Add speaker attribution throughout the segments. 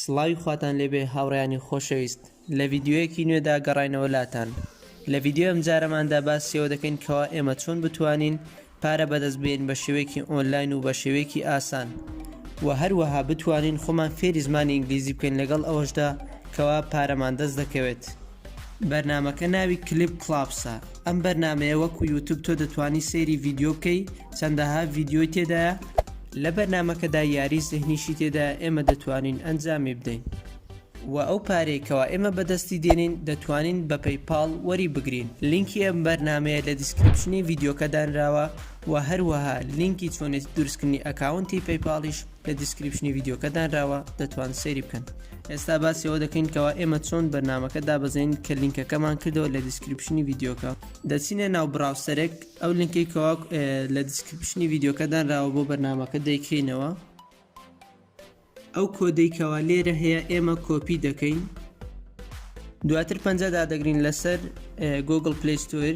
Speaker 1: سڵاوی خواتان لێبێ هاوڕێیانی خۆشەویست لە ڤیدیۆیەکی نوێدا گەڕاینەوە لاتان لە ڤیدیۆی ئەمجارەماندا باسی ئەوە دەکەین کەوا ئێمە چۆن بتوانین پارە بەدەست بێین بە شێوەیەکی ئۆنلاین و بە شێوەیەکی ئاسان و هەروەها بتوانین خۆمان فێری زمانی ئینگلیزی بکەین لەگەڵ ئەوەشدا کەوا پارەمان دەست دەکەوێت بەرنامەکە ناوی کلیپ کڵاپسە ئەم بەرنمەیە وەکو یوتوب تۆ دەتوانی سەیری ڤیددیو بکەی چەندەها ڤیددیۆی تێدایە لە بەرنمەکەدا یاری زهنیشی تێدا ئێمە دەتوانین ئەنجامی بدەین و ئەو پارەی کەوا ئێمە بەدەستی دێنین دەتوانین بە پەی پاڵ وەری بگرین لینکی ئەم بەرنمەیە لە دیسکرپشنی ڤیددیوکە دانراوە و هەروەها لینکی چۆنێت درستکردنی ئەکاونتی پەیپاڵیش لە دیسکریپشنی ڤیدیۆکە دانراوە دەتوان سەیری بکەن ئێستا باسی ئەوە دەکەین کەوا ئێمە چۆن بەرنمەکە دابەزین کە لینکەکەمان کردەوە لە دیسکریپشنی ڤیدیۆکە دەچینە ناو براوسەرێک ئەو لینکی کەوا لە دیسکریپشنی ڤیدیۆکە دانراوە بۆ بەرنمەکە دەیکەینەوە ئەو کۆدەی کەوا لێرە هەیە ئێمە کۆپی دەکەین دواتر پەنجە دادەگرین لەسەر گۆگل پلیستۆر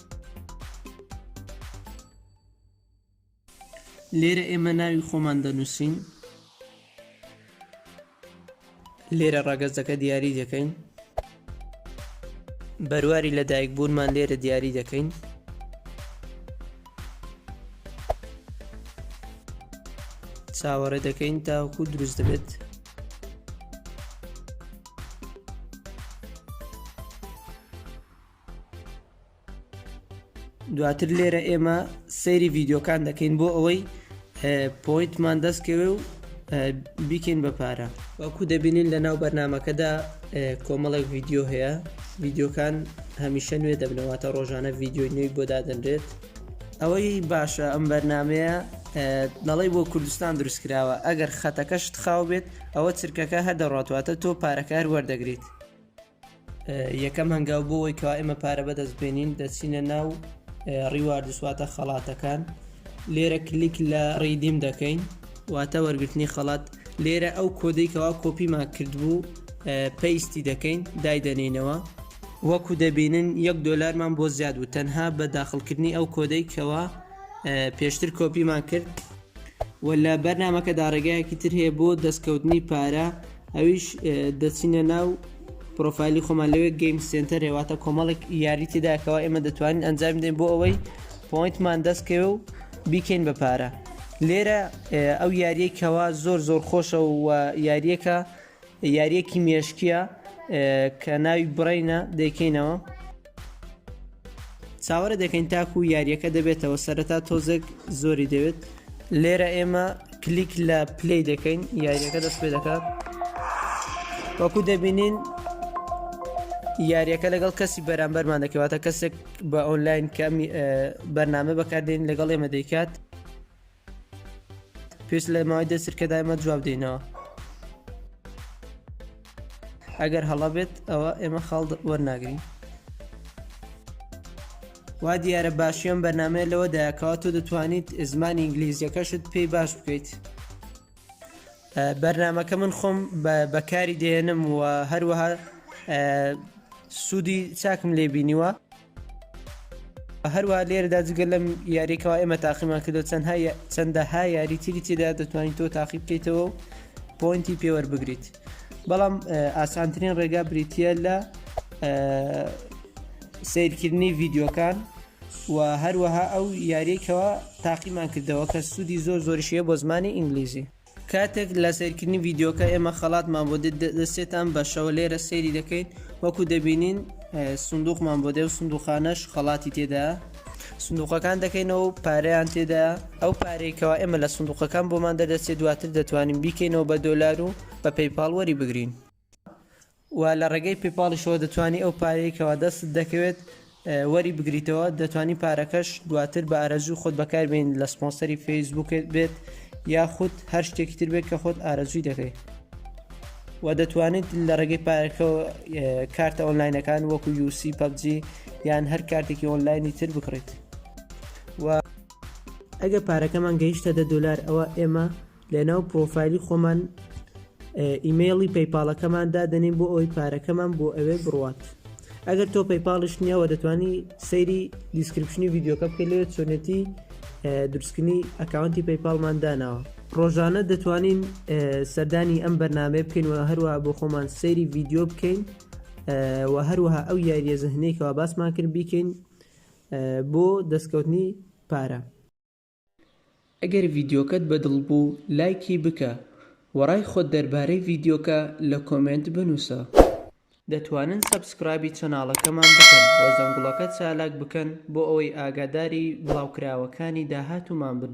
Speaker 1: لێرە ئێمە ناوی خۆمان دەنووسین لێرە ڕەگەزەکە دیاری دەکەین بەرواری لەدایک بوونمان لێرە دیاری دەکەین چاوەڕێ دەکەین تاوەکو دروست دەبێت دواتر لێرە ئێمە سەیری ڤیددیوکان دەکەین بۆ ئەوەی پۆینتمان دەستکەوێ و بیکەین بە پارە وەکو دەبینین لە ناو بەرنمەکەدا کۆمەڵێک ڤیددیو هەیە ڤیددیوکان هەمیشە نوێ دەبنەوەتە ڕۆژانە ڤیددیوی نوێی بۆ دادەنرێت ئەوەی باشە ئەم بەرنمەیە دەڵی بۆ کوردستان دروست کراوە ئەگەر خەتەکەشت خاو بێت ئەوە چرکەکە هەر دەڕاتواتە تۆ پارەکار وەردەگریت یەکەم هەنگاو بۆ ئەوەی کەوا ئێمە پارە بەدەست بێنین دەچینە ناو ڕیواردسواتە خەڵاتەکان لێرە کلیک لە ڕیدیم دەکەین واتە وەرگرتنی خەڵات لێرە ئەو کۆدەی کەوا کۆپیمان کردبوو پێیستی دەکەین دایدەنینەوە وەکو دەبینن یەک دۆلارمان بۆ زیاد و تەنها بە داخلکردنی ئەو کۆدەی کەوا پێشتر کۆپیمان کرد وە لە بەرنامەکەدا ڕێگایەکی تر هەیە بۆ دەستکەوتنی پارە ئەویش دەچینە ناو پرۆفایلی خۆمان لەوێ گەیم سنتەر هێواتە کۆمەڵێک یاری تێدا کەوا ئێمە دەتوانین ئەنجام دەین بۆ ئەوەی پۆینتمان دەستکەوێ و بیکەین بە پارە لێرە ئەو یاریەی کەوا زۆر زۆر خۆشە و یاریەکە یاریەکی مێشکیە کە ناوی برەینە دەیکەینەوە. چاوەرێ دەکەین تاکو یاریەکە دەبێتەوە سەرەتا تۆزێک زۆری دەوێت لێرە ئێمە کلیک لە پلی دەکەین یاریەکە دەست پێ دەکات وەکو دەبینین یاریەکە لەگەڵ کەسی بەرامبەرمان دەکەواتە کەسێک بە ئۆنلاین کەمی بەرنامە بەکاردێن لەگەڵ ئێمە دەیکات پێویست لە ماوەی دە سرکەدا ئێمە جواب دەینەوە ئەگەر هەڵە بێت ئەوە ئێمە خاڵ وەرناگرین وا دیارە باشیان بەرنمەیە لەوە دایکەوە تۆ دەتوانیت زمانی ئینگلیزیەکەشت پێی باش بکەیت بەرنمەکە من خۆم بەکاری دێنم و هەروەها سوودی چاکم لێ بینیوە هەروەها لێرەدا جگە لەم یاریە کەوا ئێمە تاقیمان کردو چەند چەندەها یاری تری تێدا دەتوانین تۆ تاقی بکەیتەوە و پۆینتی پێوەەر بگریت بەڵام ئاسانترین ڕێگا بریتە لە سیرکردنی ڤیددیوکان و هەروەها ئەو یاریەکەوە تاقیمان کردەوە کە سوودی زۆر زۆرشیە بۆ زمانی ئینگلیزی کاتێک لە سەیرکردنی ڤیدیۆکە ئێمە خەڵاتمان بۆ دەسێتان بەشەوە لێرە سەیری دەکەین وەکو دەبینین سندوقمان بۆ دێ و سندوقانەش خەڵاتی تێدا سندوقەکان دەکەینەوە و پارەیان تێدا ئەو پارێکەوە ئێمە لە سندوقەکان بۆمان دەردەچێت دواتر دەتوانین بیکەینەوە بە دۆلار و بە پەیپاڵ وەری بگرین. و لە ڕێگەی پێپاڵیشەوە دەتوانی ئەو پارەیەی کەوا دەستت دەکەوێت وەری بگریتەوە دەتوانی پارەکەش دواتر بە ئارەزوی خۆت بەکار بێنیت لە سپۆنسەری فەیسبووکت بێت یاخود هەر شتێکی تر بێت کە خۆت ئارەزوی دەکەیت و دەتوانیت لە ڕێگەی پارەکەەوە کارتە ئۆنلاینەکان وەکو یوسی پەبجی یان هەر کارتێکی ئۆنلاینی تر بکڕیت و ئەگە پارەکەمان گەیشتە دە دلار ئەوە ئێمە لەناو پڕۆفایلی خۆمان ئیمەیڵی پەیپاڵەکەمان دادەنین بۆ ئەوی پارەکەمان بۆ ئەوێ بڕوات ئەگەر تۆ پەیپاڵش نییەوە دەتوانی سەیری دیسکرپشنی یددیوکە بکە لێ چۆنێتی درستکردنی ئەکاونتی پەیپاڵمان داناوە ڕۆژانە دەتوانین سەردانی ئەم بەرنمەیە بکەین و هەروە بۆ خۆمان سەیری ڤیددیو بکەین و هەروەها ئەو یاریە زەهنێکەوە باسمان کرد بیکەین بۆ دەستکەوتنی پارە ئەگەر ڤیدیۆکەت بەدڵ بوو لایکی بکە وە ڕای خۆت دەربارەی ڤیدیۆکە لە کۆمێنت بنوسە. دەتوانن سەبسکرایبی چەناڵەکەمان بکەن و زەنگوڵەکە چالاک بکەن بۆ ئەوەی ئاگاداری بڵاوکراوەکانی داهاتومان بن.